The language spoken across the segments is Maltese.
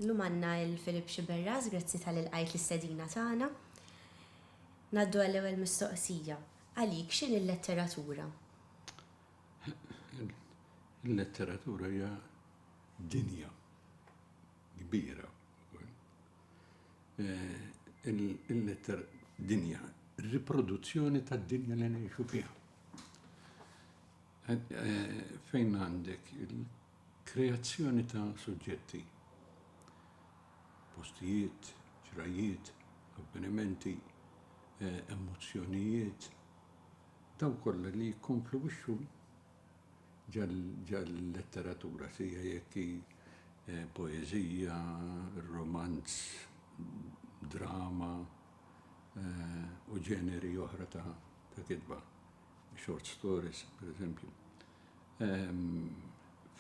Illum għanna il-Filip Xiberras, grazzi tal-il-qajt l-istedina tagħna. Naddu għall-ewwel mistoqsija. Għalik x'in il-letteratura? Il-letteratura hija dinja. kbira wkoll. Il-letter dinja, riproduzzjoni tad-dinja li ngħixu fiha. Fejn għandek il-kreazzjoni ta' suġġetti, postijiet, ġrajjiet, avvenimenti, emozzjonijiet, dawk kollha li jikkonfluwixxu Ġal-letteratura, sija jekk hi poeżija, romanz, drama u ġeneri oħra ta' kitba, short stories, pereżempju,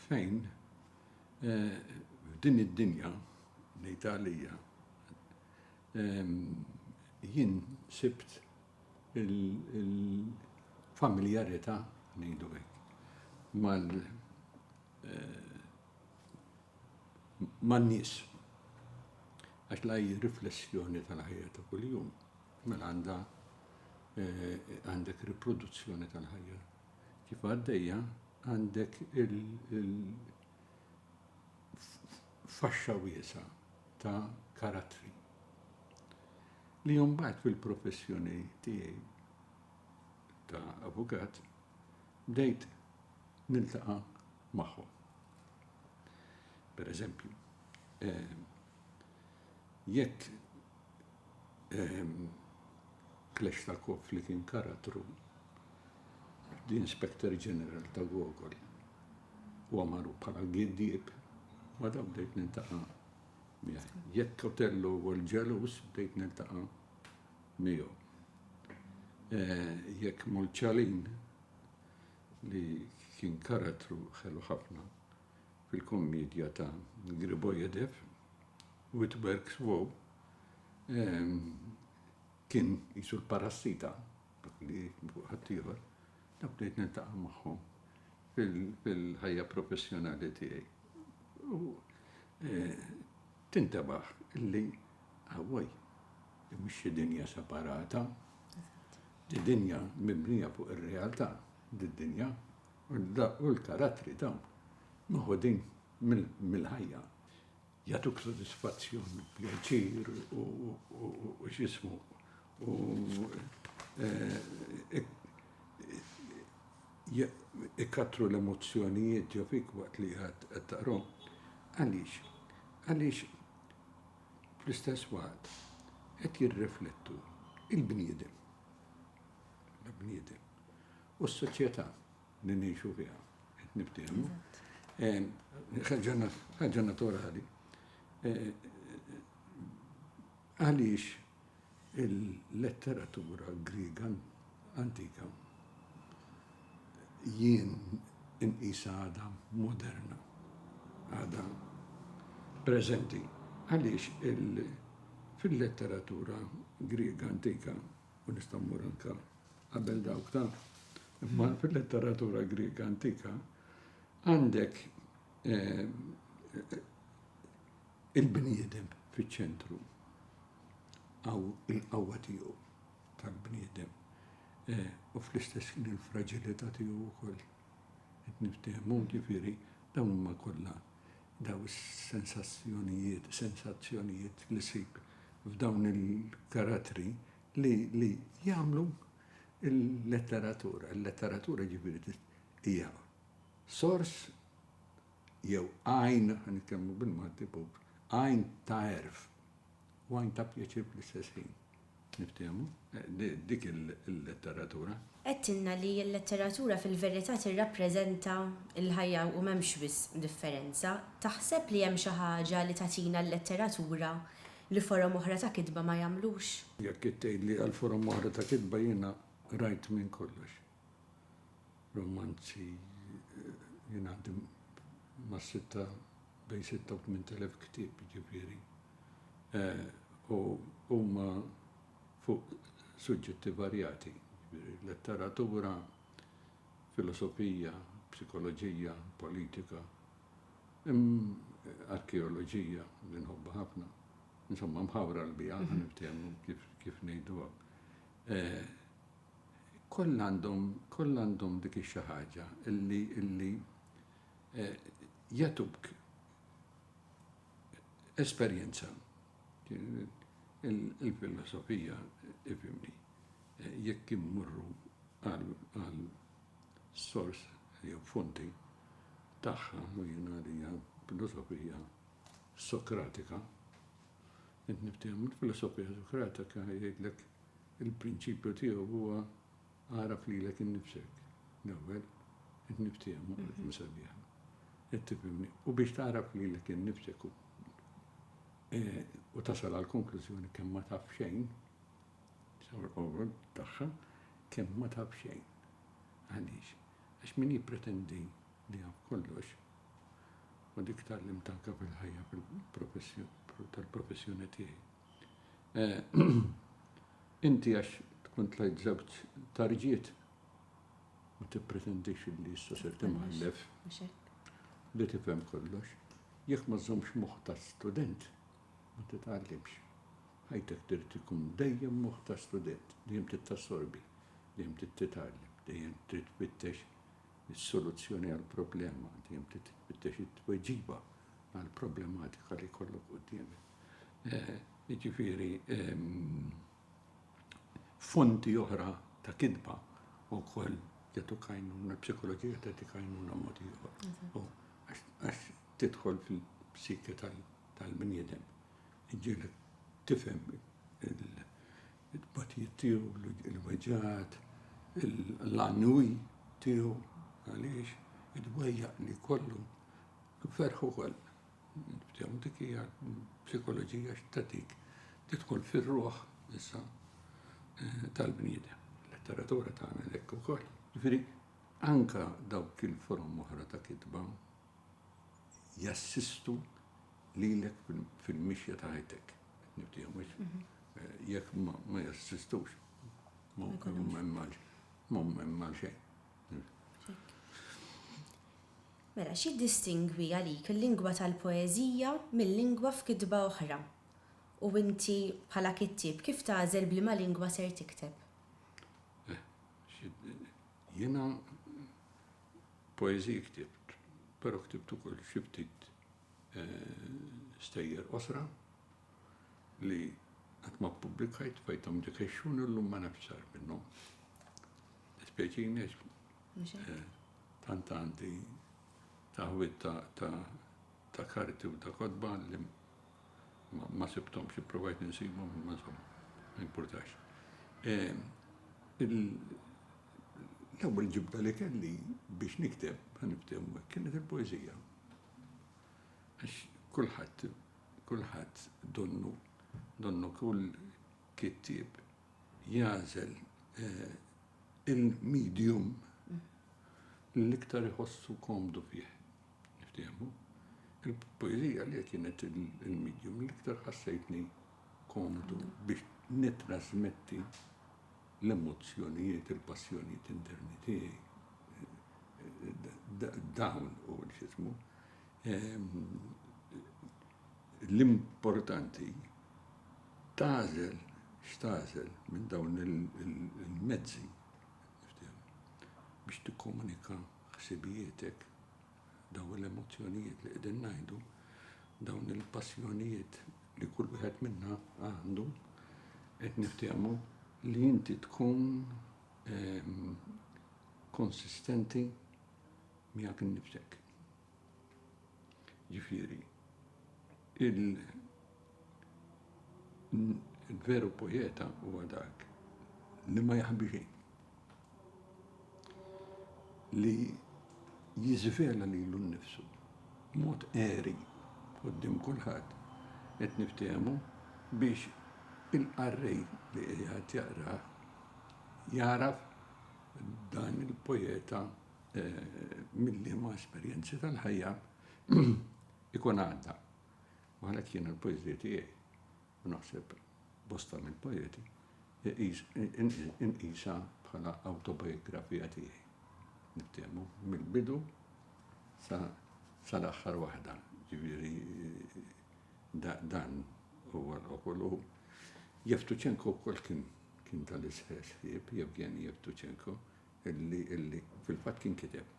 fejn f'din id-dinja, ngħidha għalija, jien sibt, il-familjarità, ngħidu hekk, man-nies. Għax l-AI riflessjoni tal-ħajja ta' kuljum, mela għandha għandek riproduzzjoni tal-ħajja kif għaddejja, għandek faxxa wiesgħa ta' karattri. Li mbagħad fil-professjoni tiegħi ta' avukat bdejt niltaqa' magħhom. Pereżempju, jekk Kleshtakov li kien karattru f'The Inspector General ta' Gogol huwa magħruf bħala giddieb, ma' dawn bdejt niltaqa' miegħi. Jekk Otello huwa l-ġeluż bdejt niltaqa' miegħu. Jekk Molċalin li kien karattru ħelu ħafna fil-kommedja ta' Gribojedev u It Works Wow kien qisu l-parassita, dak li ħaddieħor, Ta' bdejt niltaqa' magħhom fil-ħajja professjonali tiegħi u tintebaħ li awwaj, din mhux xi dinja separata, din dinja mibnija fuq ir-realtà, did-dinja u l-karattri dawn meħudin mill-ħajja. jagħtuk sodisfazzjon, pjaċir u x'ismu u ikattru l-emozzjonijiet ġo fik waqt li qed taqrahom. Għaliex? Għaliex fl-istess waqt qed jirriflettu il-bniedem, il-bniedem u s-soċjetà. li ngħixu fiha, qed niftiehmu. Ħaġa naturali. Għaliex il-letteratura Griega antika jien inqisa għada moderna, għada prezenti. Għaliex fil-letteratura Griega antika u nista' mmur anke qabel dawk ta' imma fil-letteratura Griega antika għandek il-bniedem fiċ-ċentru għaw il-qawwa tiegħu tal-bniedem eh, u fl-istess kien il-fragilità tiegħu wkoll. Qed niftehmu ġifieri dawn huma kollha Dawn is-sensazzjonijiet, sensazzjonijiet li ssib f'dawn il-karattri li li jagħmlu l-letteratura. Il-letteratura ġifieri hija sors jew għajn, ħa nitkellmu bil-Malti, għajn ta' għerf. Wine ta' pjaċir fl-istess ħin. Niftehmu? Dik il-letteratura. Għedtilna li l-letteratura fil-verità tirrappreżenta l-ħajja u m'hemmx wisq differenza. Taħseb li hemm xi ħaġa li tagħtina l-letteratura li forom oħra ta' kitba ma jagħmlux? Jekk tgħidli għal forom oħra ta' kitba jiena rajt minn kollox. Romanzi jien għandi ma' sitta bejn sitta u tmint elef ktieb jiġifieri. U huma fuq suġġetti varjati, jiġifieri letteratura, filosofija, psikoloġija, politika, arkeoloġija li nħobbha ħafna. Insomma mħawra l-biha, ħa niftehmu kif ngħiduha. Kollha għandhom, kollha għandhom dik ix-xi ħaġa li, li jagħtuk esperjenza. Il-filosofija, ifhimni, jekk immorru għal, għal sors jew fonti tagħha, u jiena għalija filosofija Sokratika, int niftehmu l-filosofija Sokratika jgħidlek Il-prinċipju tiegħu huwa agħraf lilek innifsek l-ewwel, qed niftiehmu qalb imsabiħa, qed tifhimni, u biex tagħraf lilek innifsek u u tasal għall-konklużjoni kemm ma taf xejn, sewwa l-qofol tagħha, kemm ma taf xejn. Għaliex? Għax min jippretendi li jaf kollox, u dik tgħallimt anke fil-ħajja fil-professjoni tal-professjoni tiegħi, Inti għax tkun tlajt żewġ tarġiet ma tippretendix li issa ser timħallef li tifhem kollox. Jekk ma żżommx moħħ ta' student, ma titgħallimx. Ħajtek trid ikun dejjem moħħ ta' student, dejjem trid tassorbi, dejjem trid titgħallem, dejjem trid tfittex is-soluzzjoni għall-problema, dejjem trid tfittex it-tweġiba għall-problematika li jkollok quddiemek. jiġifieri fonti oħra ta' kitba wkoll jagħtu kajnuna, psikoloġija tagħti kajnuna mod ieħor. Għax tidħol fil-psike tal-bniedem. Ġielek tifhem il-batijiet tiegħu, il-weġġat, l-annwi tiegħu, għaliex id-dwejja li kollu ferħu koll. Nibdew dik hija psikoloġija x'tatik tidħol fir-ruħ issa eh, tal-bniedem. Letteratura tagħna hekk ukoll. Ġifieri anka dawk il-forom oħra ta' kitba jassistu lilek fil-mixja ta' ħajtek. Nibdew mhux mhm. eh, jekk ma jassistux. Ma mmemmal xejn. Mela, x'jiddistingwi għalik il-lingwa tal-poeżija mil-lingwa f'kitba oħra? U inti bħala kittieb kif tagħżel b'liema lingwa ser tikteb? Jiena poeżiji ktibt, però ktibt ukoll xi ftit stejjer qosra li qatt ma ppubblikajt, bqajthom dik ix-xhun u llum ma nafx x'sar minnhom. Dispjaċini għax Mhux hekk? eh, tant għandi taħwid ta' ta' ta' karti u ta' kotba li ma, ma sibthomx, ippruvajt insibhom imma insomma, ma jimpurtax. Eh, il, l-ewwel ġibda li kelli biex nikteb, ħa niftehmu hekk, kienet il-poeżija. Għax kulħadd, kulħadd donnu, donnu kull kittieb jagħżel il-medium li l-iktar iħossu komdu fih. Niftiehmu? Il-poeżija li kienet il-medium li l-iktar ħassejtni komdu biex nittrasmetti l-emozzjonijiet, il-passjonijiet interni tiegħi. Dawn u x'ismu. Ehm, l-importanti Tagħżel x'tagħżel minn dawn il-mezzi biex tikkomunika ħsibijietek, dawn l-emozzjonijiet li qegħdin ngħidu, dawn il-passjonijiet li kull wieħed minna għandu, qed niftehmu li inti tkun konsistenti miegħek innifsek. Ġifieri, il-veru poeta huwa dak li ma jaħbi xejn, li jiżvela lilu nnifsu b'mod għeri quddiem kulħadd, qed niftehmu, biex il-qarrej li qiegħed jaqrah jagħraf dan il-poeta Mill-liema esperjenzi tal-ħajja ikun għadda. U għalhekk jiena l-poeżija tiegħi, u naħseb bosta mill-poeti, inqisha bħala awtobiografija tiegħi. Niftehmu mill-bidu sal-aħħar waħda, ġifieri dan huwa l-okol u Jeftuċenko wkoll kien tal-istess ħsieb, Jevgeni Jeftuċenko, illi, illi, fil-fatt kien kiteb,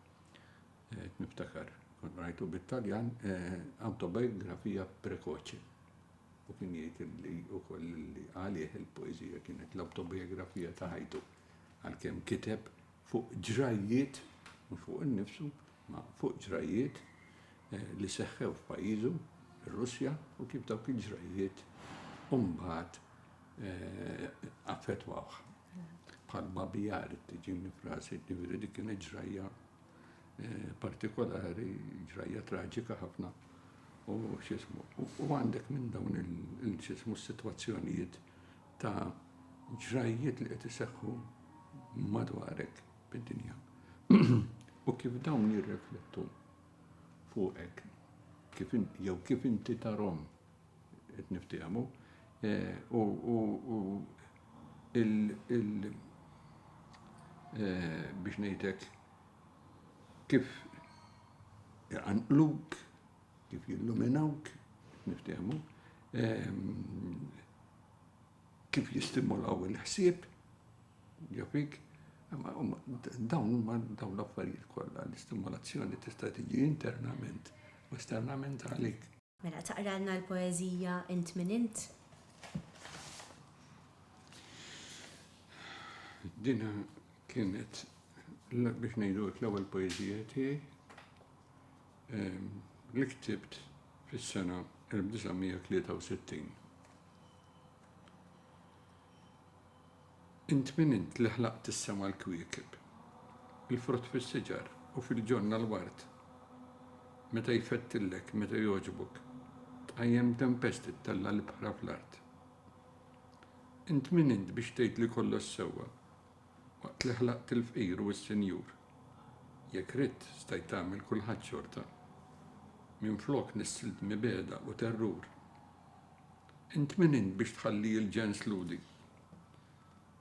qed niftakar, kont qrajtu bit-Taljan, awtobiografia precoce. U kien jgħid illi wkoll illi għalih il-poeżija kienet l-awtobiografija ta' ħajtu, għalkemm kiteb fuq ġrajjiet, mhux fuq innifsu, ma fuq ġrajjiet li seħħew f'pajjiżu, ir-Russja, u kif dawk il-ġrajjiet mbagħad affettwawh. Bħalma biha rrid tiġini frasi, jiġifieri dik kienet ġrajja eh, partikolari, ġrajja traġika ħafna. U xismu, u għandek minn dawn il-xismu s-sitwazzjonijiet ta' ġrajjiet li qed iseħħu madwarek bid-dinja. U kif dawn jirreflettu fuqek, jew kif inti tarom qed niftiehmu, u biex ngħidlek kif iqanqluk, kif jilluminawk, qed niftiehmu, kif jistimulaw il-ħsieb ġo fik, dawn huma dawn l-affarijiet kollha, l-istimulazzjoni tista' tiġi internament u esternament għalik. Mela taqralna l-poeżija Int Min Int? Dina kienet biex ngħidu l-ewwel poeżija tiegħi ehm, li ktibt fis-sena 1963. Int min int li ħlaqt is-sema l-kwiekeb, il-frott fis-siġar u fil-ġonna l-ward? Meta jfettillek, meta jogħġbok, tqajjem tempesti ttella' l-ibħra fl-art. Int min int biex tgħid li kollox sewwa, waqt li ħlaqt il-fqir u s-sinjur? Jekk ridt, stajt tagħmel kulħadd xorta, minflok nissilt mibegħda u terrur. Int min int biex tħalli il-ġens lhudi?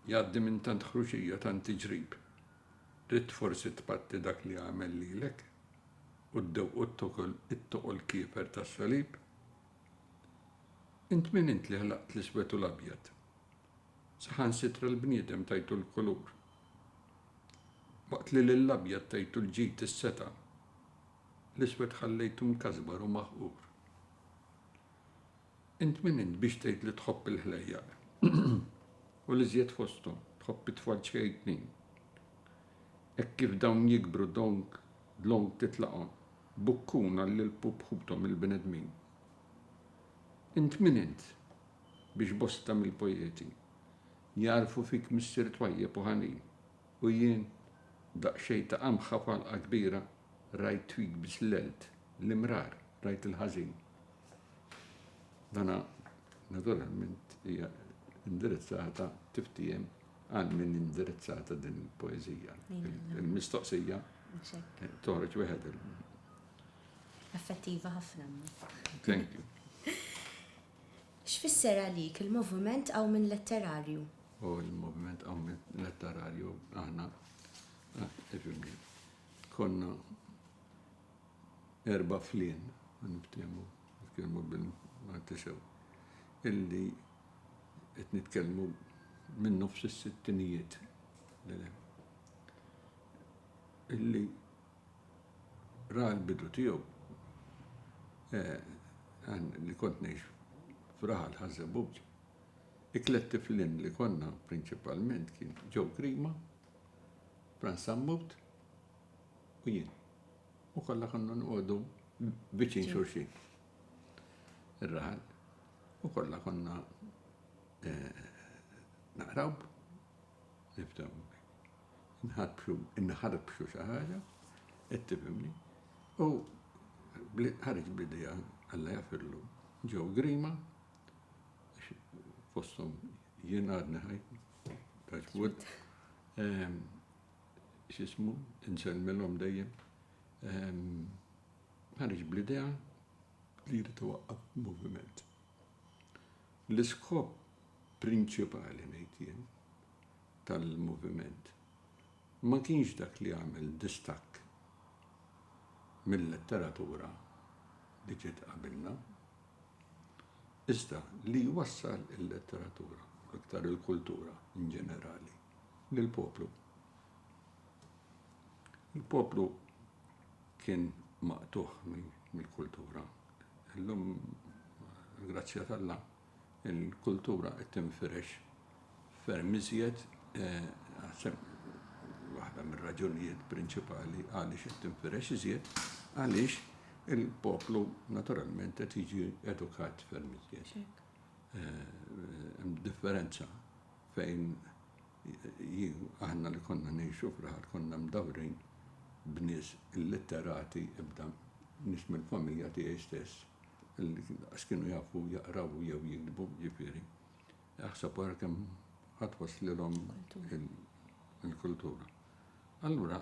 Jgħaddi minn tant ħruxija tant tiġrib. Ridt forsi tpatti dak li għamel lilek? U d-dewq u t-tokel it-toqol kiefer tas-salib? Int min int li ħlaqt l-iswed u l-abjad? Saħansitra l-bniedem tajtu l-kulur. Waqt li lill-abjad tajtu l-ġid is-setgħa, l-iswed ħallejtu mkasbar u maħqur. Int min int biex tgħid li tħobb il-ħlejjaq, u l-iżjed fosthom, tħobb it-tfal ċkejknin? Hekk kif dawn jikbru donk dlonk titlaqhom, bukkuna lil pup ħuthom il-bnedmin. Int min int biex bosta mill-poeti jagħrfu fik missier twajjeb u ħanin? U jien, daqsxejn ta' qamħa f'għalqa kbira, rajt twig biss l-għelt, l-imrar, rajt il-ħażin. Dana naturalment hija indirizzata tiftiem għal min indirizzata din il-poezija. Il-mistoqsija toħroġ wieħed il- Effettiva ħafna. Thank you. X'fisser għalik il-moviment Qawmien Letterarju? O Il-moviment Qawmien Letterarju aħna, ifhimni, konna erba' flien, u niftiehmu, nitkellmu bil-Malti sew, illi qed nitkellmu minn nofs is-sittinijiet 'l hemm, illi Ra l-bidu tiegħu, Għan li kont ngħix f'raħal Ħaż-Żebbuġ. It-tliet tiflin li konna prinċipalment kien Joe Grima, Frans Sammut u jien. U kollha konna noqogħdu viċin xulxin. Ir-raħal. U kollha konna naqraw, niftaw. nħarbxu, inħarbxu xi ħaġa, qed tifhimni, u ħareġ bl-idea Alla jafirlu ġew grima fosthom jien għadni ħaj, taċbud, ehm, xismu, insemmilhom dejjem, ehm, ħarġ bl-idea li jrid waqqaf moviment. L-iskop prinċipali ngħid jien tal-moviment ma kienx dak li għamel distakk mil-letteratura li ġiet qabilna, iżda li jwassal il-letteratura, u l-iktar il-kultura in ġenerali, lill-poplu. Il-poplu kien maqtugħ mill-kultura. Illum, għall-grazzja t'Alla, Il-kultura qed tinfirex ferm iżjed, naħseb waħda mir-raġunijiet prinċipali għaliex qed tinfirex iżjed, għaliex il-poplu naturalment qed jiġi edukat ferm iżjed. Hemm differenza fejn Jien, aħna li konna ngħixu f'raħal konna mdawrin b'nies illitterati imbda nies mill-familja tiegħi stess li lanqas kienu jafu jaqraw jew jiktbu, jiġifieri aħseb ara kemm ħa twasslilhom il-kultura. Allura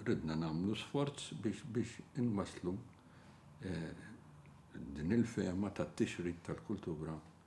ridna nagħmlu sforz biex inwasslu din il-fehma tat-tixrid tal-kultura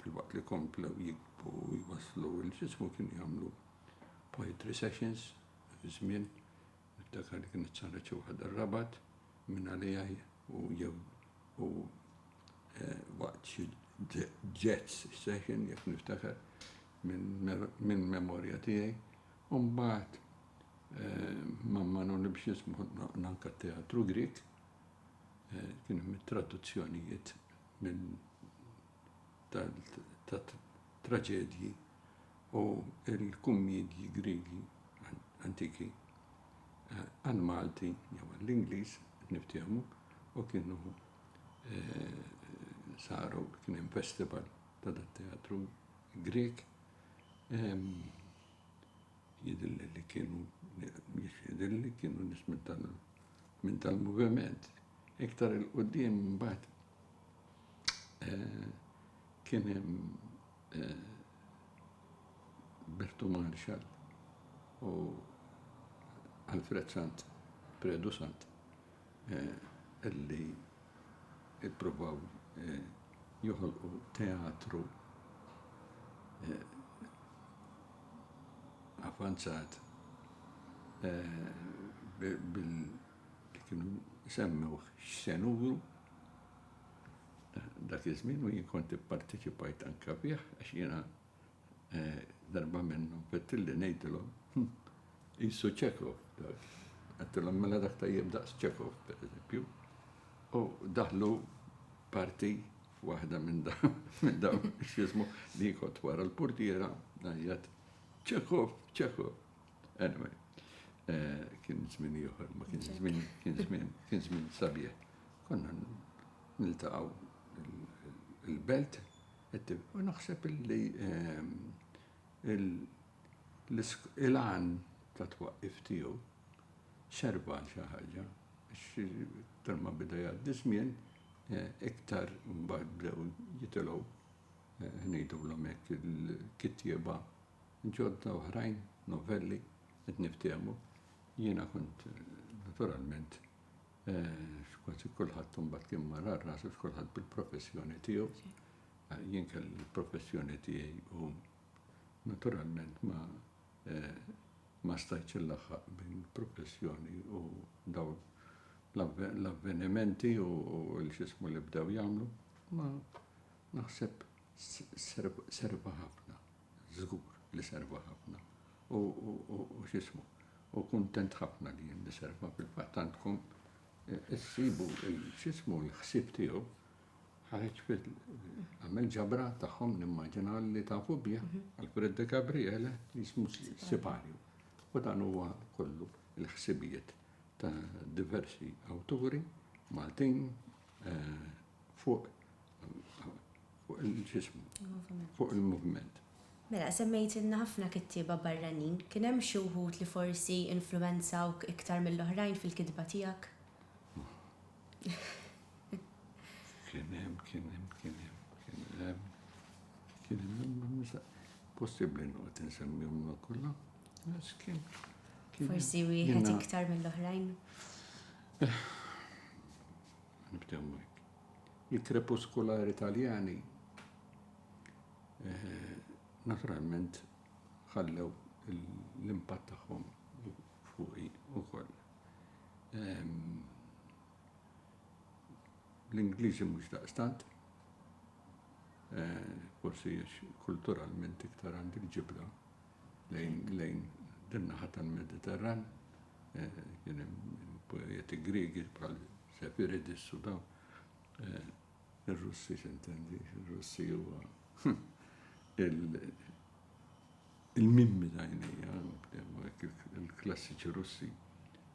filwaqt li komplew jikbru u jwasslu l-ġismu kienu jagħmlu poetry sessions dak iż-żmien, niftakar li kienet saret xi waħda r-Rabat minn għaliha u jew u waqt xi jazz session jekk niftakar minn memorja tiegħi. U mbagħad ma' Manoli biex jismu nanka t-teatru Grieg Kien hemm traduzzjonijiet minn tat-traġedji u l-kummiedji Griegi antiki għall-Malti jew għall-Ingliż, niftehmu, u kienu saru, kien hemm festival ta' dat-teatru Grieg. Jidhirli li kienu, mhux jidhirli, kienu nies minn tal-moviment. Iktar 'il quddiem imbagħad kien hemm Bertu Marshall u Alfred Sant, Predu Sant. li ppruvaw joħolqu teatru avvanzat billi kienu semmewh x'se nuru dak iż-żmien u jien kont ipparteċipajt anke fih għax jiena Darba minnhom għedtilli ngħidilhom, Hm, qisu Chekhov dak. Għedtilhom, Mela dak tajjeb daqs Chekhov, pereżempju. U daħlu parti f'waħda minn dawn, x'jismu, li kont wara l-purtiera, ngħajjat, Chekhov, Chekhov. Anyway, kien żmien ieħor, ma kien żmien, kien żmien, kien żmien sabiħ. Konna niltaqgħu il-belt U naħseb li l-għan tat-twaqqif tiegħu serva għal xi ħaġa, għax iktar ma beda jgħaddi ż-żmien, iktar mbagħad bdew jitilgħu, ngħidulhom hekk, il-kittieba ġodda oħrajn, novelli, qed niftehmu. Jiena kont naturalment Kważi kulħadd imbagħad kien mar għal rasu għax kulħadd bil-professjoni tiegħu. Jien kelli l-professjoni tiegħi u naturalment ma ma stajtx inlaħħaq bejn il-professjoni u dawn l-avvenimenti u l-xismu li bdew jagħmlu, ma naħseb serva ħafna, żgur li serva ħafna. u x'ismu, u kuntent ħafna li jien niserva, fil-fatt għandkom issibu x'ismu l-ħsieb tiegħu ħareġ fil għamel ġabra tagħhom nimmaġina li tafu bih Alfred de Gabriele li jismu Siparju. U dan huwa kollu l-ħsibijiet ta' diversi awturi Maltin eh, fuq fuq il-ġismu, fuq il-moviment. Mela, semmejtilna ħafna kittieba barranin. Kien hemm xi wħud li forsi influwenzawk iktar mill-oħrajn fil-kitba tiegħek? Kien hemm, kien hemm, kien hemm, kien hemm. Kien hemm, possibbli noqgħod insemmihom ma' kollha. Forsi wieħed iktar mill-oħrajn. Eh, Nibdew Il-krepuskolari Taljani naturalment ħallew l-impatt tagħhom fuqi wkoll. L-Ingliżi mhux daqstant, forsi għax kulturalment iktar għandi ġibda lejn din naħa tal-Mediterran, kien hemm poeti Griegi bħal Sefiridis u dawn. Ir-Russi x'intendi? Ir-Russi huwa il-mimmi ta' għajnejja, il-klassiċi Russi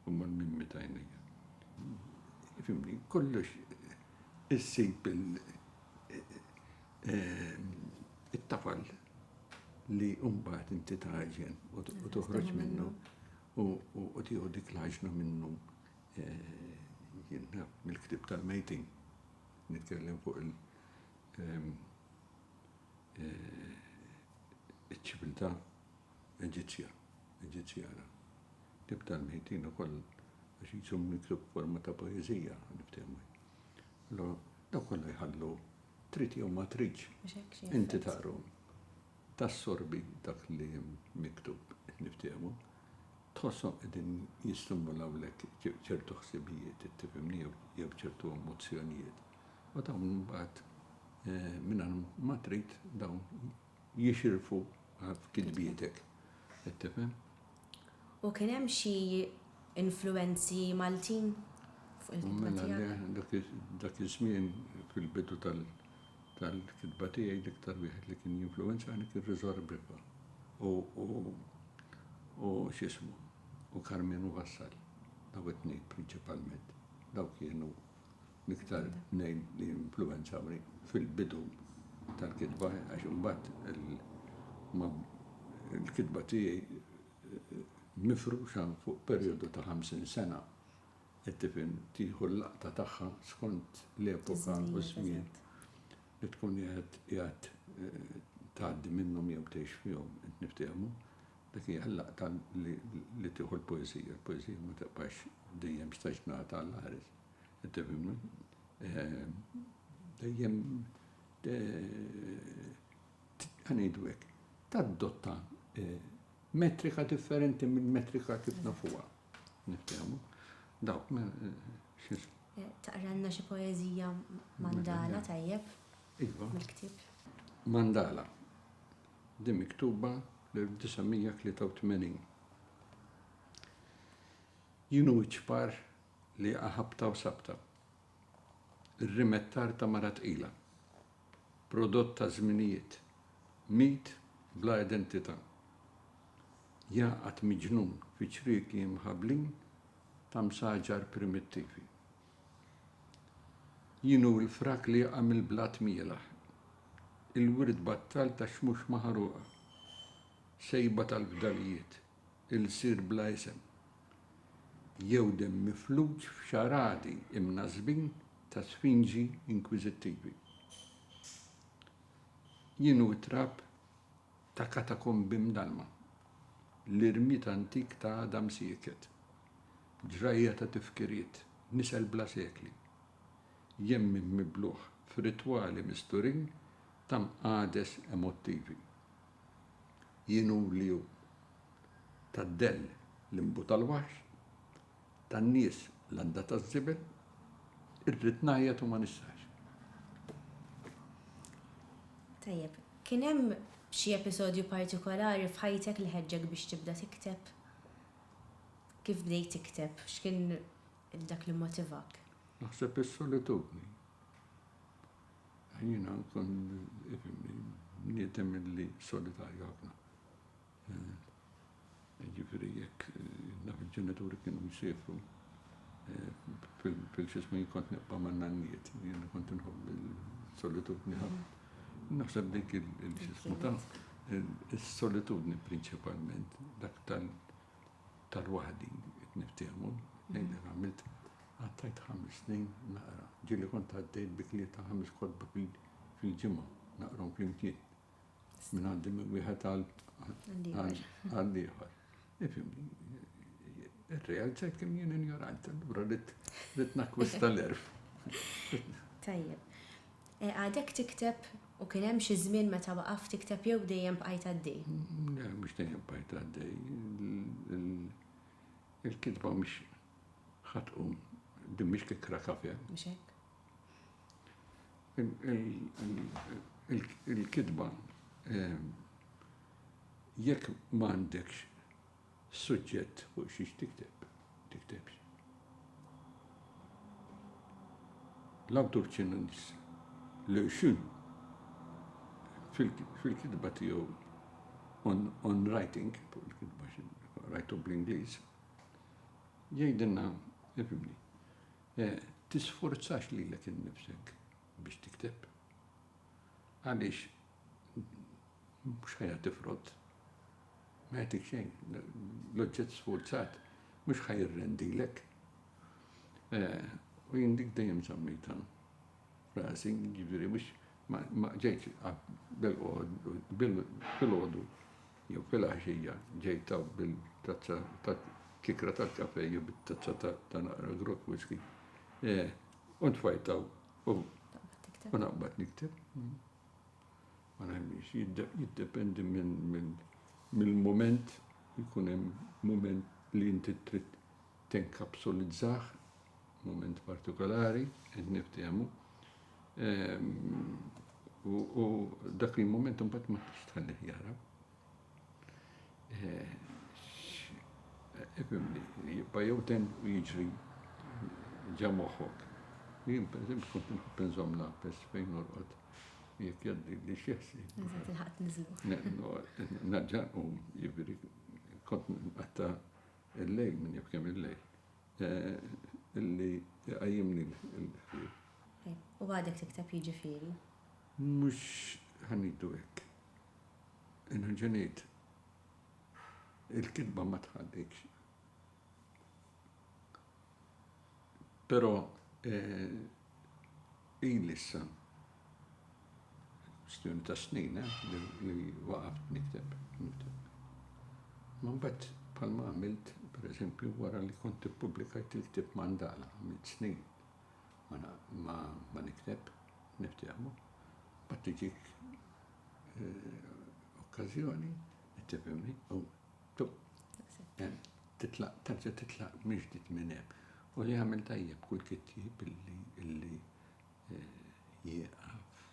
huma l-mimmi ta' għajnejja. Fimni, kollox issib it-tafal li mbagħad inti taġen u toħroġ minnu u tieħu dik l-għaġna minnu Jien mill-ktieb tal-mejtin nitkellem fuq il- ċiviltà Eġizzja, Eġizzjana. Ktieb tal-mejtin ukoll għax jiġu miktub forma ta' poeżija niftehmu. Allora, daw kollha jħallu trid jew ma tridx. Inti taqru tassorbi dak li hemm miktub qed niftehmu. Tħosshom qegħdin jistimulawlek ċertu ħsibijiet, tifhimni, jew ċertu emozzjonijiet, u dawn imbagħad mingħajr ma trid dawn jixirfu f'kitbietek. Qed tifhem? U kien hemm xi influwenzi Maltin fuq il-kitba tiegħek? Mela le, dak iż-żmien fil-bidu tal-kitba tiegħi l-iktar wieħed li kien jinfluwenzani kien Riżor Briffa u u x'ismu u Karmenu Vassal daw it-tnejn prinċipalment daw kienu l-iktar tnejn li influwenzawni fil-bidu tal-kitba għax imbagħad il-kitba tiegħi mifruxa fuq perjodu ta' 50 sena it-tifel tieħu l-laqta tagħha skont l-epoka u ż-żmien li tkun qed qiegħed tgħaddi minnhom jew tgħix fihom, qed niftehmu, dik hija l-laqta li tieħu l-poeżija, il-poeżija ma tibqax dejjem staġnata għall-aħris, qed tifhimni? Dejjem ħa ngħidu hekk, tadotta metrika differenti mill-metrika kif nafuha. Niftehmu. Dawk Taqranna xi poeżija mandala tajjeb. Iva. Mill-ktieb. Mandala. Din miktuba l-1983. Jien u ċ-ċpar li jaqa' ħabta u sabta. Ir-rimettar ta' mara tqila. Prodott ta' żminijiet. Mit bla identità. Jgħaqqad miġnun fi ċrieki imħablin ta' msaġar primittivi. Jien hu l-frak li jaqa' mill-blat mielaħ. Il-wirt battal tax-xmux maħruqa. Sejba tal-fdalijiet. ilsir bla isem, jew demm mifluġ f'xaradi imnażżbin ta' sfinġi inkwiżittivi, jien hu t-trab ta' katakombi mdallma, l-irmied antik ta' għadam sieket, ġrajja ta' tifkiriet, nisel bla sekli, jemmin mibluħ f'ritwali misturin ta' mqagħdes emottivi. Jien hu li hu. Tad-dell l-inbu tal-waħx, tan-nies l-għanda taż-żibel, irrid ngħajjat u ma nistax. Tajjeb, kien hemm xi episodju partikolari f'ħajtek li ħeġġek biex tibda tikteb? Kif bdejt tikteb? X'kien dak li mmotivak? Naħseb is-solitudni. Jiena nkun bniedem li solitarju ħafna. Jiġifieri jekk naf il-ġenituri kienu jsiefru fil-x'ismu jien kont nibqa' man-nannijiet. Jiena kont inħobb is-solitudni ħafna. Naħseb dik il-x'ismu ta' is-solitudni prinċipalment dak tal-. Ta' lwaħdi qed niftiehmu, lejn dan għamilt, qattajt ħames snin naqra. Ġieli kont għaddejt bi tlieta ħames kotba fil-ġimgħa, naqrahom flimkien. Minn għandi minn wieħed għal ieħor. Ifhimni, irrealizzajt kemm jien injorant, allura rrid nakkwista l-erf. Tajjeb. Għadek tikteb u kien hemm xi żmien meta waqaft tikteb jew dejjem bqajt għaddej? Le, mhux dejjem bqajt għaddej. Il-kitba mhix ħa tqum, din mhix kikra kafe. Mhux hekk? Il-kitba jekk m'għandekx Suġġett fuq xiex tikteb, tiktebx. L-awtur Ċinuniż Liu Xun fil-kitba tiegħu on, on writing, fuq il-kitba rajtu bl-Ingliż, jgħidilna, ifimni, eh, tisforzax lilek innifsek biex tikteb. Għaliex Mhux ħajja tifrot. Ma jagħtik xejn. L-oġġett sfurzat mhux ħaj irrendilek. Eh, u jien dik dejjem żammejta rasi, jiġifieri mhux ma ġejt bil-għodu jew fil-għaxija ġejt bil-tazza ta' kikra tal-kafe jew bit-tazza ta' naqra grok whisky. Eh, u tfajtaw u naqbad nikteb. ma nemmix, jiddependi mill-mument, jkun hemm mument li inti trid tenkapsulizzah, mument partikolari, qed niftehmu. Ehm, u dak il-mument imbagħad ma tix tħallih jara. Jibqa' jew ten u jiġri ġa moħħok. Jien pereżempju kont inħobb inżomm l-għapes fejn norqod jekk jgħaddi li xi ħsieb. Meta tilħaq tniżlu. Nerġa' nqum, jiġifieri kont nqatta' il-lejl minn jaf kemm il-lejl. Illi iqajjimni l-ħsieb. U għadek tikteb jiġifieri? Mhux ħa ngħidu hekk. Nerġa' ngħid, il-kitba ma tħallikx. Però ili issa kwistjoni ta' snin li waqaft nikteb. Ma mbagħad bħalma għamilt, pereżempju, wara li kont ippubblikajt il-ktieb Mandala, għamilt snin ma nikteb. Niftehmu. Mbagħad tiġik okkażjoni, tifhimni, u hemm titlaq, terġa' titlaq mill-ġdid minn hemm. U li jagħmel tajjeb kull kittieb illi jieqaf,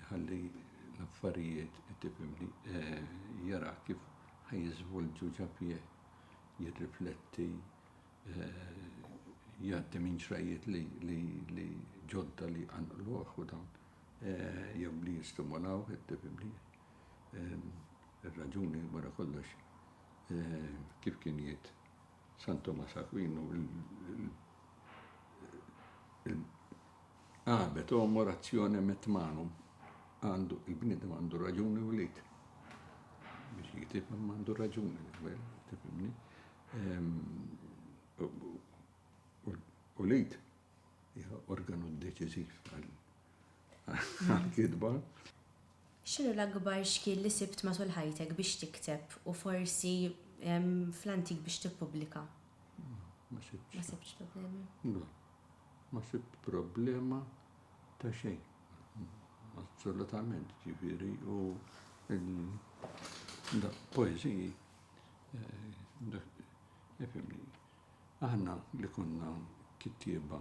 iħalli l-affarijiet, tifhimni, jara kif ħa jiżvolġu ġa fih, jirrifletti. jgħaddi minn xrajjiet li ġodda li jqanqluh u dawn jew li jistimolaw it-tibimlija. Ir-raġuni wara kollox kif kien jgħid San Tumas Akwinu l-Abet homo rationem et manum, għandu il-bniedem għandu raġuni u l-id biex jgħid imma għandu raġuni, tifhimni? U l-id hija organu deċiżiv għall-kitba. X'inhu l-akbar xkiel li sibt matul ħajtek biex tikteb u forsi fl-antik biex tippubblika? Ma sibtx. Ma sibtx problemi? Le. Ma sibt problema ta' xejn. Assolutament, ġifieri, u poeżiji Ifhimni, aħna li konna kittieba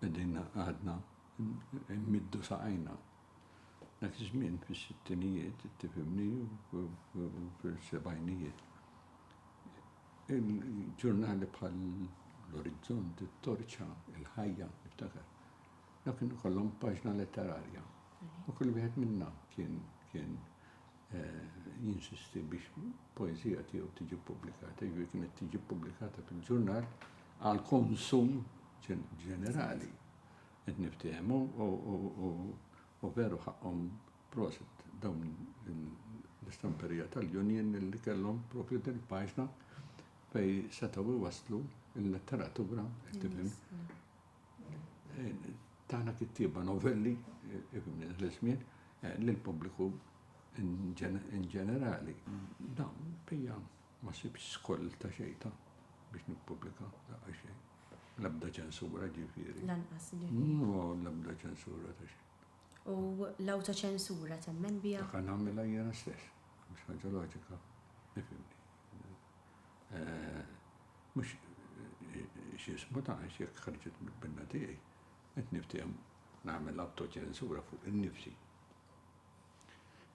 qegħdin għadna nmiddu saqajna. Dak iż-żmien fis-sittinijiet, tifhimni, u fis-sebgħinijiet, il-ġurnali bħal l-Orizzont, it-Torċa, il-Ħajja, niftakar, Dawn kienu kollhom paġna letterarja u kull wieħed minna kien kien jinsisti biex poeżija tiegħu tiġi ppubblikata, jiġifieri kienet tiġi ppubblikata fil-ġurnal għal konsum ġenerali. Qed niftehmu u veru ħaqqhom prosit dawn l-istamperija tal-Union li kellhom propju din il-paġna fej setgħu iwasslu l-letteratura, tifhem, tagħna kittieba novelli l-żmien eh, lill-pubbliku in ġenerali. Dawn bija ma sibx skoll ta' xejta biex nippubblika daqqa xejn. L-abda ċensura ġifieri. Lanqas ġifieri. No, l-abda ċensura ta' xejn. U l-awta ċensura temmen bija? Dak nagħmilha jiena stess, mhux ħaġa loġika, nifhimni. Eh, Mhux x'ismu ta' għax jekk ħarġet mill-pinna tiegħi qed niftiehem nagħmel awtoċensura fuq innifsi.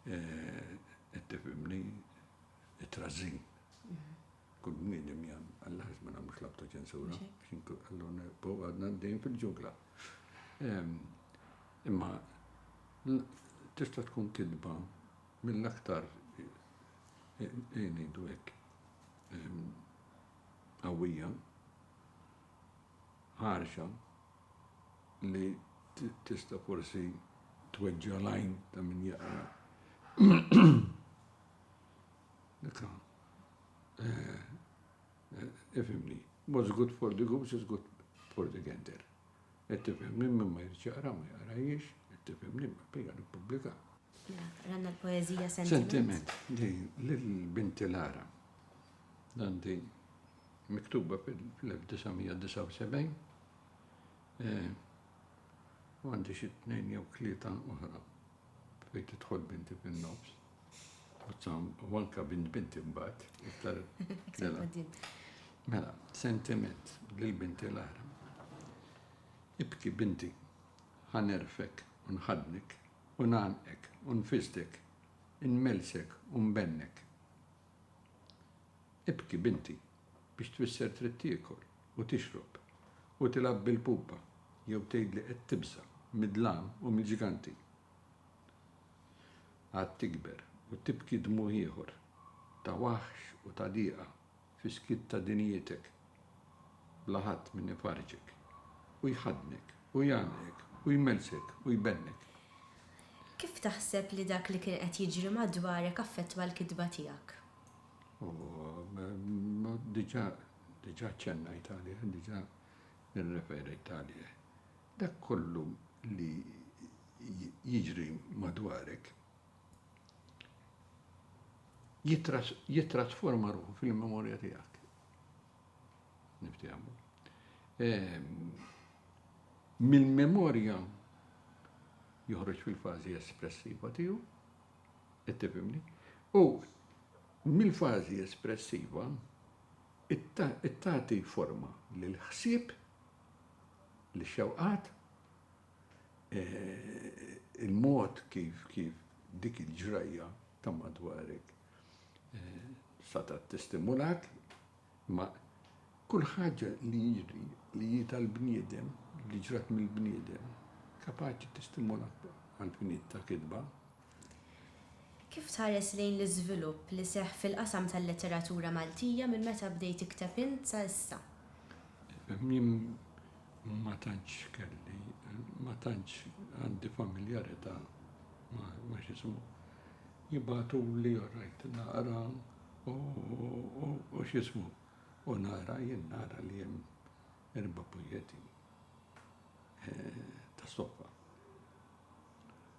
Qed tifhimni? It-trażżin. Kull bniedem jagħmel, Alla għax ma nagħmlux l-awtoċensura? Allura nibqgħu għadna għaddejjin fil-ġungla. Imma tista' tkun kidba mill-aktar, ejn ngħidu hekk, qawwija, ħarxa, li tista' forsi tweġġa' l-għajn ta' min jaqra. Ifhimni, what's good for the goose is good for the gander. Qed tifhimni, min ma jridx jaqra ma jaqrajiex, qed tifhimni, ma pejja nippubblika. Ranna l-poezija sentiment. Sentiment, di l-binti Lara. Dan di miktuba fil-1979. Eh, u għandi xi tnejn jew tlieta oħra fejn tidħol binti fin-nofs. U anka bint binti mbagħad iktar. Mela. mela, sentiment lil binti Lara. Ibki binti, ħanerfek u nħadnik U ngħannqek, u nfisdek, inmellsek u nbennek. Ibki, binti, biex tfisser trid tiekol, u tixrob, u tilgħab bil-pupa, jew tgħid li qed tibża' mid-dlam u mill-ġganti. Għad tikber u tibki dmugħ ieħor, ta' waħx u ta' diqa. Fis-skiet ta' dinjitek, bla ħadd min ifarrġek, u jħaddnek, u jgħannqek, u jmellsek, u jbennek. Kif taħseb li dak li kien qed jiġri madwarek affettwa l-kitba tiegħek? Diġà, diġà ċċennajt għalih, diġà irreferejt għalih. Dak kollu li jiġri madwarek, jittrasforma ruħu fil-memorja tiegħek. Niftiehmu. Ehm, mill-memorja joħroġ fil-fażi espressiva tiegħu, qed tifhimni, u mill-fażi espressiva it-tati forma l-ħsib, l-xewqat, il-mod kif kif dik il-ġrajja ta' madwarek setgħet tistimulak, imma kull ħaġa li jiġri li hi tal-bniedem, li ġrat mill-bniedem, kapaċi tistimulak għall-finit ta' kitba. Kif tħares lejn l-iżvilupp li seħħ fil-qasam tal-letteratura Maltija minn meta bdejt tikteb int sa issa? Jien ma tantx kelli, ma tantx għandi familjarità ma' x'ismu. Jibagħtuli u rajt naqra u x'ismu, u nara, jien nara li hemm Erba' pujjetti ta' stoffa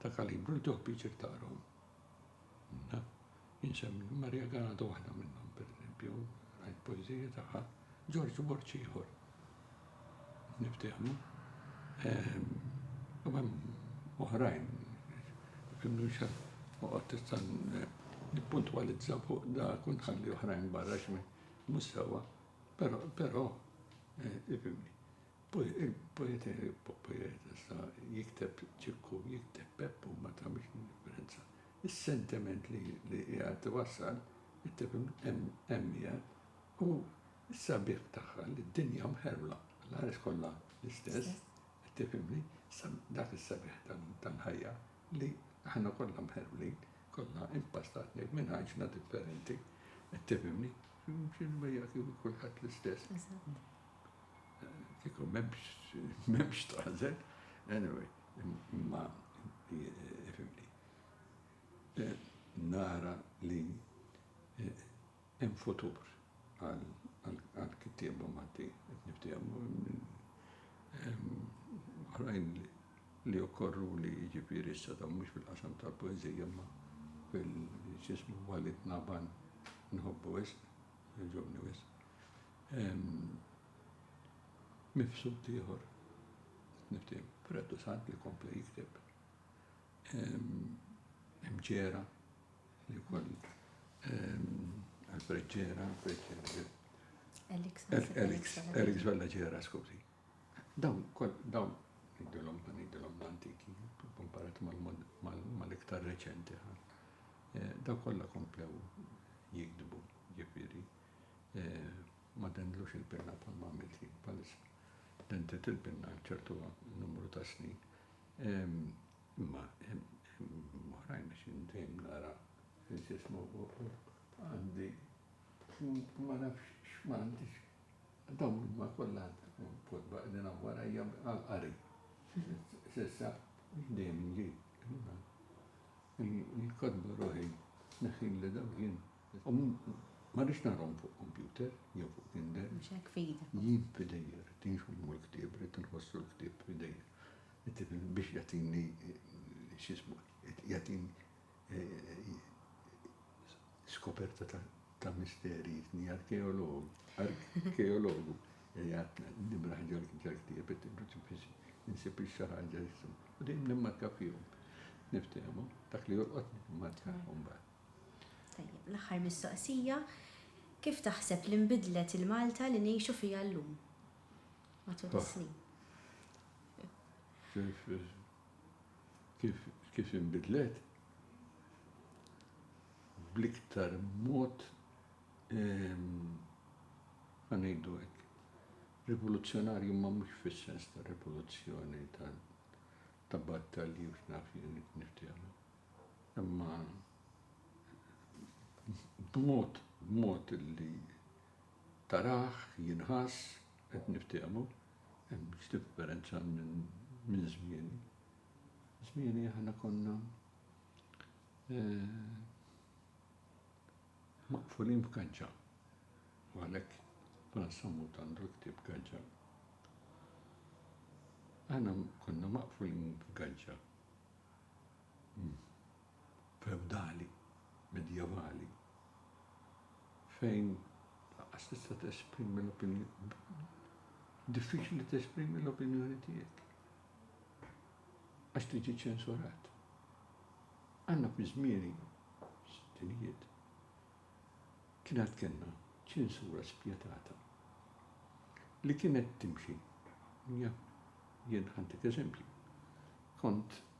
ta' kalibru li tieħu piċir taqrahom. Insemmi Maria Ganado waħda minnhom, pereżempju, rajt poeżija tagħha, Ġorġ Borċ ieħor. Niftehmu. Ehm, u hemm oħrajn, kimnu xan, uqgħod tista' nippuntwalizza fuq da kun ħalli oħrajn barra x'min mhux sewwa. Però, però, ifhimni, il-poetessa jikteb Ċikku, jikteb Peppu ma tagħmilx differenza. Is-sentiment li qiegħed iwassal, hemm qiegħed, u s-sabiħ tagħha li d-dinja mħerwla, l-għares kollha l-istess, qed tifhimni, dak is-sabiħ tal-ħajja li aħna kollha mħerwlin, kollha impastati minn għajxna differenti, qed tifhimni. Flimkien ma jagħti lil kulħadd l-istess. Eżatt. Kieku m'hemmx m'hemmx tagħżel, anyway, imma fimni. Nara li hemm futur għall-kittieba Maltin qed niftehmu. Oħrajn li okkorruli jiġifieri issa dawn mhux fil-qasam tal-poeżija imma fil x'ismu huwa li tnaban inħobbu wisq, jogħġobni wisq. Mifsud ieħor, qed niftehim, Freddu Sant li kompla jikteb. Hemm Ġera li wkoll Alfred Ġera, Alfred Ġera. Elix Vella Ġera, skużi. Dawn, dawn, ngħidilhom, ngħidilhom l-antiki, komparat mal-iktar reċenti ħa. Eh, daw kollha komplew jikdbu, ġifieri, eh, ma dendlux il-pinna bħal ma għamilti palissa. Dentet il-pinna ċertu numru ta' snin. Imma, moħrajn biex indejm nara fil-ġismu għandi ma nafx x'ma għandix Dawn huma kollha kotba qegħdin hawn warajja għall-qari. S'issa dejjem inġi. Il-kotba ruħi neħħilli dawk jien. U ma rridx naqrahom fuq kompjuter jew fuq Kindle. Mhux hekk f'idek. Jien f'idejja rrid inxommu l-ktieb, rrid inħossu l-ktieb f'idejja. Tifhem? Biex jagħtini x'ismu, jagħtini. Skoperta ta' misteri jitni arkeologu. Arkeologu jgħatna nimraħ ġal-ktieb it-tibruċi biex insib xi ħaġa jisum. U dejjem nimmarka fihom. Niftehmu, dak li jolqot nimmarka mbagħad. Tajjeb, l-aħħar mistoqsija, kif taħseb li nbidlet il-Malta li ngħixu fiha llum matul is-snin? Kif, kif inbidlet? Bl-iktar mod, ehm, ħa ngħidu hekk, rivoluzzjonarju imma mhux fis-sens ta' rivoluzzjoni ta' ta' battalji u x'naf jien niftehmu. Imma b'mod b'mod li taraħ jinħass qed niftehmu. Hemmx differenza minn żmieni. Żmieni aħna konna maqfulin f'gaġġa u għalhekk Fran Sammut għandu l-ktieb Gaġġa. Aħna konna maqfulin f'gaġġa. fewdali, medjevali, fejn lanqas tista' tesprimi l-opinjoni, diffiċli tesprimi l-opinjoni tiegħek għax tiġi ċensurat. Għandna fi żmieni, sinijiet, kien għad kellna ċensura spjetata li kienet timxi. Jien ħantik eżempju. Kont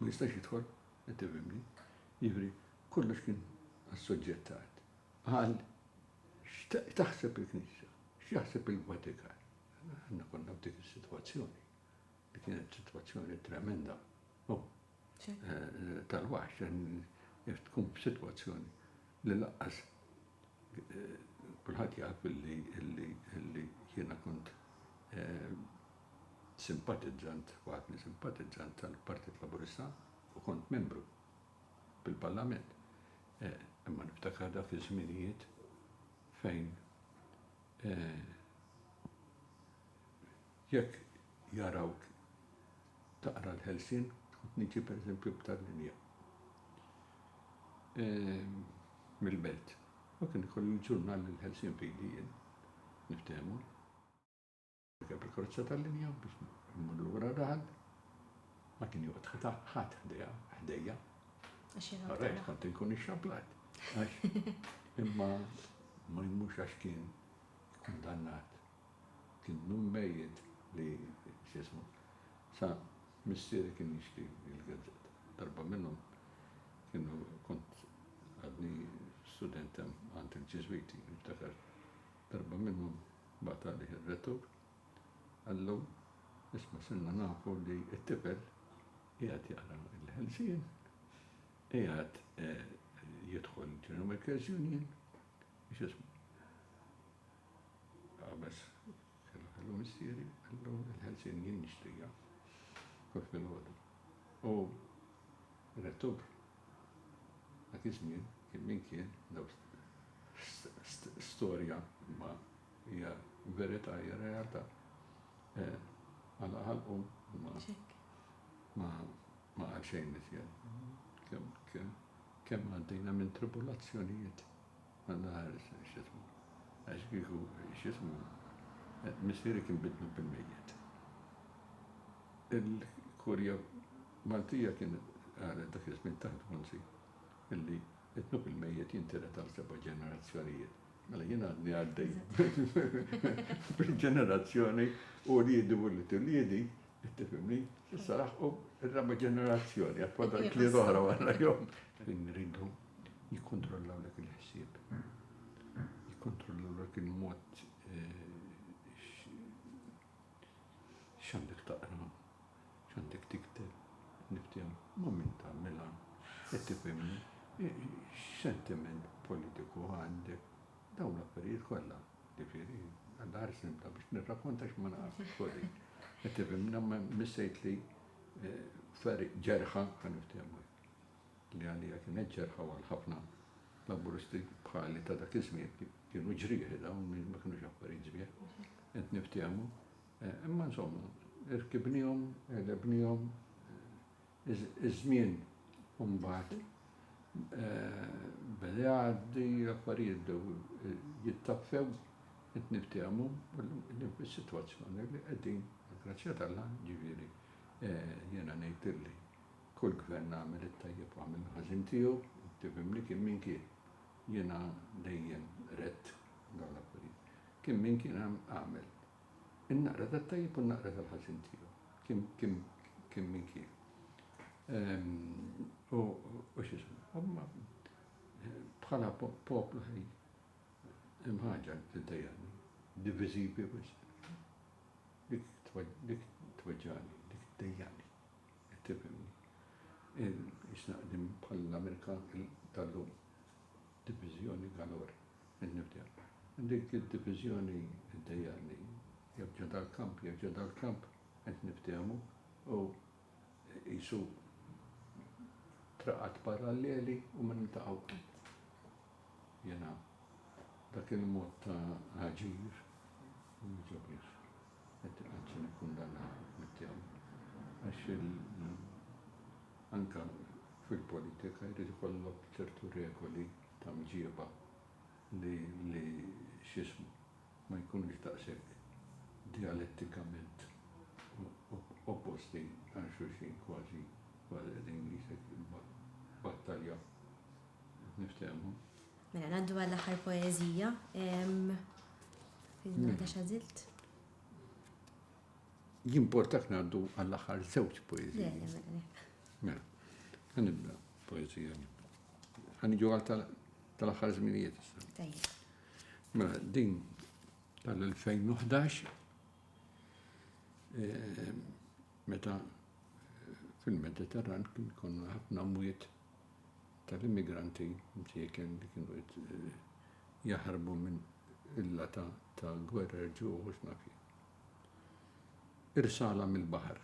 ma jistax jidħol, qed tifhimni? Jiġifieri kollox kien assoġġettat għal x'taħseb il-Knisja, x'jaħseb il-Vatikan. Aħna konna f'dik is-sitwazzjoni li kienet sitwazzjoni tremenda. Oh, eh, tal-waħx, tkun f'sitwazzjoni li laqqas Kulħadd jaf illi jiena kont simpatizzant, waħadni simpatizzant tal-Partit Laburista u kont membru fil-Parlament. Imma niftakar dak iż-żminijiet fejn Jekk jarawk taqra l-ħelsien u tniġi pereżempju b'tal linja mill-belt, u kien ikoll il-ġurnal Il-Ħelsien f'idi jien, niftehmu. Rkeb il-karozza tal-linja biex immur lura daħal, ma kien joqgħod ħata ħadd ħdejha, ħdejja. Għax jien All right, kont inkun ixxablat. Għax imma ma jmurx għax kien kundannat. Kien nun mejjet li, x'jismu, sa missieri kien jixtri l-gazzett. Darba minnhom kienu kont għadni student hemm għand il-Ġiżwiti, niftakar darba minnhom bagħat għalih ir-rettur qallu, isma' sirna nafu li t-tifel qiegħed jaqra l-Ħelsien, qiegħed jidħol General Workers' Union, x'jismu. Qabeż, Kellha kellu missieri, kellu l-ħelsien jien nixtrija kif filgħodu. U Rettub dak iż-żmien kien min kien, daw storja imma hija verità, hija realtà, għalaq ħalqu u ma ma ma qal xejn iżjed. Kemm kemm għaddejna minn tribulazzjonijiet Naħares x'ismu, għax kieku x'ismu missieri kien biddlu bil-mejjet. Il-Kurja Maltija kienet qalet dak iż-żmien taħt Bonzi illi d-dnub il-mejjet jintiret għal seba' ġenerazzjonijiet. Mela jien għadni għaddej bil-ġenerazzjoni uliedi u wlied uliedi Qed tifhimni? Issa laħqu r-raba' ġenerazzjoni, għad fadal klied oħra wara jom. Fejn rridu jikkontrollaw dak il-ħsieb. Jikkontrollaw dak il-mod x'għandek taqra, x'għandek tikteb, niftim ma' min tagħmilha, qed tifhimni? X'sentiment politiku għandek? Dawn l-affarijiet kollha, ġifieri, għandha ħares nibda biex nirrakkonta x'ma naf, sorry. Qed tifhem, jiena missejtli fergħa ġerħa, ħa niftehmu hekk, li għalija kienet ġerħa u għal ħafna Laburisti bħali ta' dak iż-żmien kienu ġrieħi dawn, ma kinux affarijiet sbieħ, qed niftehmu. Imma insomma, irkibnihom, għelebnihom, Iż-żmien imbagħad beda jgħaddi, l-affarijiet bdew jittaffew, qed niftehmu llum fis-sitwazzjoni li qegħdin, bil-grazzja t'Alla, jiġifieri jiena ngħid illi kull Gvern għamel it-tajjeb u għamel il-ħażin tiegħu, tifhimni, kien min kien. Jiena dejjem għedt dawn l-affarijiet. Kien min kien għamel. In-naqra tat-tajjeb u n-naqra tal-ħażin tiegħu. Kien, kien, kien min kien. Ehm, u, u x'ismu, imma bħala poplu ħej, hemm ħaġa li tiddejjaqni, diviżivi wisq. Dik dik tweġġagħni, dik tdejjaqni. Qed tifhimni? Isnaqdim bħall-Amerika tal-lum. Diviżjoni Ganor, in-Nibdja. Dik id-diviżjoni ddejjaqni. Jew ġo dal-kamp, jew ġo dal-kamp, qed niftehmu, u qisu traqat paralleli u ma niltaqgħu qatt. Jiena dak il-mod ta' aġir ma jogħġobnix. Qed azzjon ikkundannabli f'mitt term għax anke fil-politika jrid ikollok ċertu regoli ta' mġieba li li x'ismu ma jkunux daqshekk dialettikament opposti għal xulxin kważi kważi qegħdin ngħidlek battalja biex niftehmu. Mela ngħaddu għall-aħħar poeżija. Fil-nota xażilt. Jimportak ngħaddu għall-aħħar żewġ poeżija. Mela, ħanibda poeżija. Ħaniġu għal tal-aħħar żminijiet. Mela, din tal-2011 eh, meta eh, fil-Mediterran kien konna ħafna mwiet tal-immigranti mċieken li kienu qed jaħarbu minn illa ta' ta' gwerer ġuħ u x'naf jien. Irsala mill-baħar.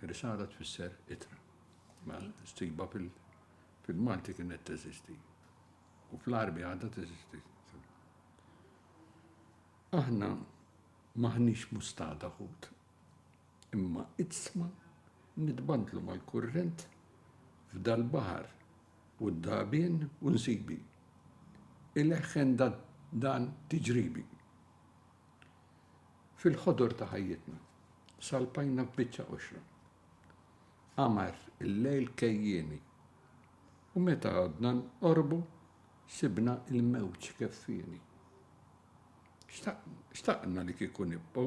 Irsala tfisser itra. Ma stiba fil- fil-Malti kienet teżisti. U fl-Arbi għadha teżisti. Aħna maħniex mustada ħut. Imma idsma nitbandlu mal-kurrent f'dal-baħar u d-dagħbien u nsibi. Ileħħen dan tiġribi. Fil-ħodor ta' ħajjitna salpajna f'biċċa qoxra. Qamar il-lejl kejjieni. U meta għadna nqorbu sibna il-mewġ keffieni. Xtaqna li kieku nibqgħu.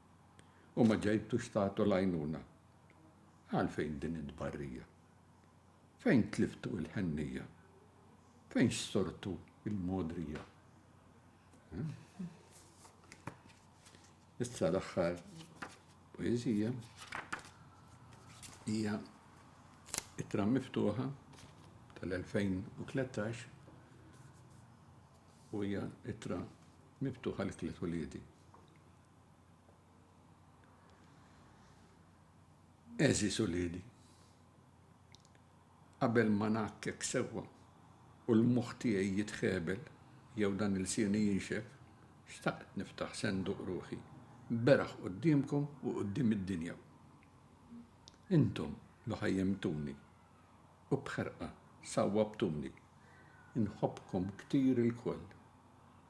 u ma ġejtux tagħtu l-għajnuna. Għalfejn din it-tbarrija? Fejn tliftu l-ħennija? Fejn xsortu l-mogħdrija? Issa l-aħħar poeżija hija ittra miftuħa tal-2013 u hija ittra miftuħa li tliet uliedi. Għeżież uliedi, qabel ma ngħakkek sewwa u l-moħħ tiegħi jitħebel jew dan ilsieni jinxef, xtaqt niftaħ senduq ruħi beraħ quddiemkom u quddiem id-dinja. Intom li ħajjimtuni u b'ħerqa sawwabtuni, inħobbkom ktir ilkoll.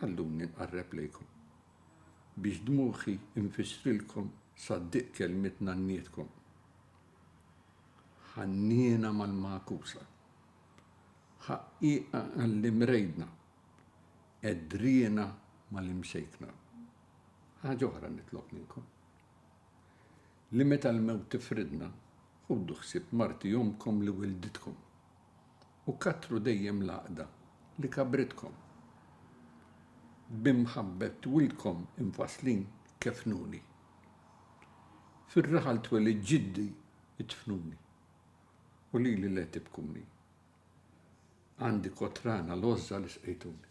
Ħalluni nqarreb lejkom, biex dmugħi nfissrilkom sad-diq kelmiet nannietkom, ħanniena mal-magħkusa, ħaqqieqa għall-imrejdna, qedriena mal-imsejkna. Ħaġa oħra nitlob minnkom, li meta l-mewt tifridna, ħudu ħsieb marti omkom li wilditkom. u kattru dejjem l-għaqda li kabbritkom b'imħabbet wildkom imfasslin kefnuni fir-raħal twelid ġiddi idfnuni u lili le tibkuni għandi kotrana l-għożża li sqejtuni.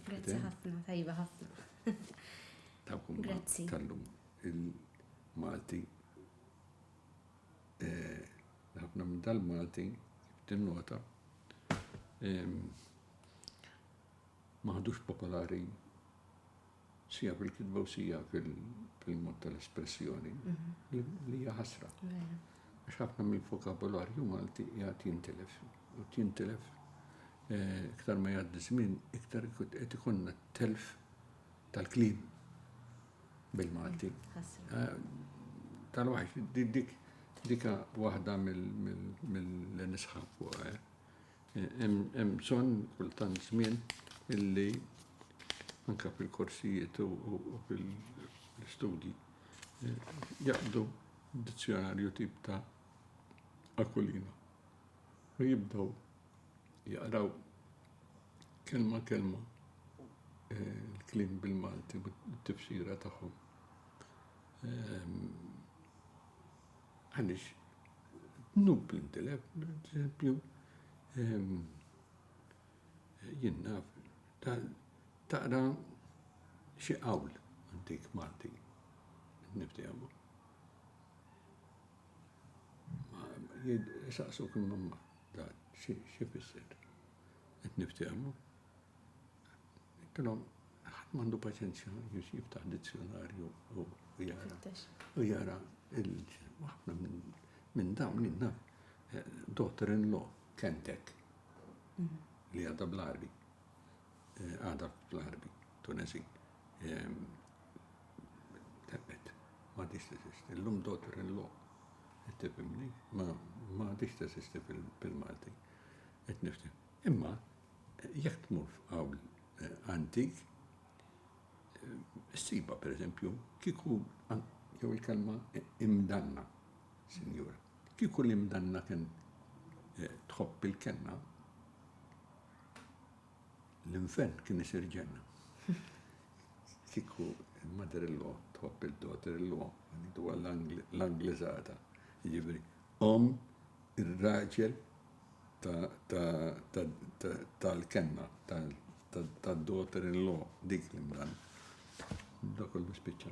Grazzi ħafna, tajba ħafna. Tawkom tal-lum il-Malti ħafna minn tal-Malti, tinnota, maħdux popolari sija fil-kitba u sija fil-mod tal-espressjoni mhm. li hija ħasra. Għax ħafna minn vokabularju Malti jgħat jintilef. U jintilef eh, iktar ma jgħaddi żmien, iktar qed ikonna telf tal-kliem bil-Malti. Tal-wahx, dik dika waħda mill-nisħab fuq. Hemm bżonn kultant żmien illi anka fil-korsijiet u fil-studji jaqdu dizzjonarju tip ta' akulina. U jibdaw jaqraw kelma kelma eh, l-klim bil-Malti u t-tifsira tagħhom. Ehm, għaliex nub l-intilef, eżempju, ehm, jinnaf taqra xi qawl antik Malti niftijamu. Saqsu kim mamma. Dan x'ifisser? Qed niftehmu? Kellhom ħadd m'għandu paċenzja biex jiftaħ dizzjonarju u jara. U jara ħafna minn dawn li naf eh, daughter in law kentek mhm. li għadha bl-arbi. Eh, għadha fl-arbi, Tunesi. Ehm, Tebet, ma għadix teżisti. Illum daughter in law. Qed tifhimni? Ma ma għadix teżisti fil-Malti. Qed nifti. Imma jekk tmur f'qawl eh, antik, Siba, per eżempju, kiku, jew il-kelma imdanna, sinjura, kiku l-imdanna kien eh, tħobb il-kenna, L-infern kien isir ġenna. Kieku il-mother-in-law tħobb il-daughter-in-law, ngħidu għall-Angliżata, jiġifieri omm ir-raġel tal-kenna, tad-daughter-in-law, dik l-imdan. Dak kollu spiċċa.